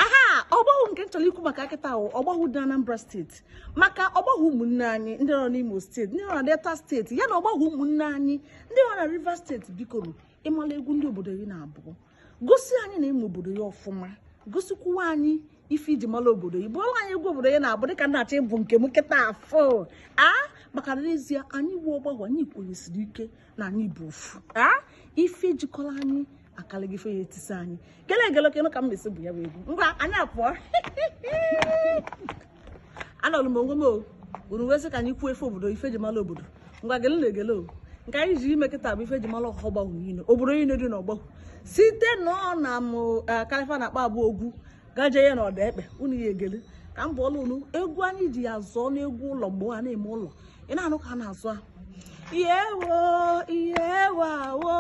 aha ọgbahụ nke m chọrọ ikwu maka kịta bụ ọgbahụ dị Anambra steeti maka ọgbahụ ụmụnne anyị ndị nọ n'Imo steeti ndị nọ na Delta steeti ya na ọgbahụ ụmụnne anyị ndị nọ na Rivers steeti biko nụ ị mala egwu ndị obodo gị na-abụ gosi anyị na ị ma obodo gị ọfụma gosikwuwa anyị ife e ji mara obodo gị bụọla anyị egwu obodo gị na-abụ dịka m na-achọ ịbụ nke m kịta afọ a maka na n'ezie anyị wụ ọgbahụ anyị kwenyesiri ike na anyị bụ ofu ife jikọlụ anyị akalịgo ife ya-etisa anyị gele egele oke ka m mesi bụ ya bụ egwu ngwa anyị apụọ anọlụ m onwe m o unu wee sị ka anyị kwuo ife obodo ife e ji mara obodo ngwa gele na egele o nke anyị ji eme kịta bụ ife e ji mara ọgbahụ niile obodo niile dị n'ọgbahụ site na ọ na m kalifa na-akpa bụ Ogwu gaje ya na Odekpe unu ya-egele ka m bụọla unu egwu anyị ji ya zụọ n'egwu ụlọ mgbe ha na-eme ụlọ ị na-anụ ka a na-azụ ahụ ihe wo ihe wa wo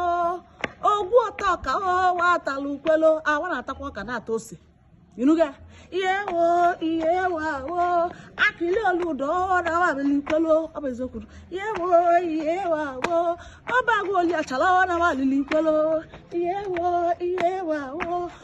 Ogwu ọta ọka owa atala ukwelo awa na-atakwa ọka na-ata ose inuga ihe wo ihe wa wo Akịlị olu ụdọ ọdawa abịala ukwelo ọ bụ eziokwu ihe wo ihe wa wo Obeagwe oli achala ọ na-awa alili ukwelo ihe wo ihe wa wo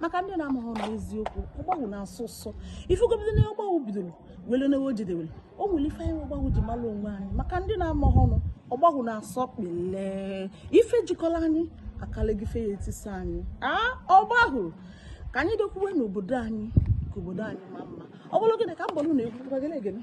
maka ndị na-amaghị na eziokwu ọgbahụ na-asọ ụsọ ifegobido na ọgbahụ bidoro wele na o jedewere o nwere ife anyị ọgbahụ ji mara onwe anyị maka ndị na-amaghị ọnụ ọgbahụ na-asọ Ikpele ife jikọrọ anyị akalịgo ife ya-etisa anyị a ọgbahụ ka anyị dokwuwe n'obodo anyị ka obodo anyị ma mma ọ bụrụ gịnị ka m bụrụ na egwu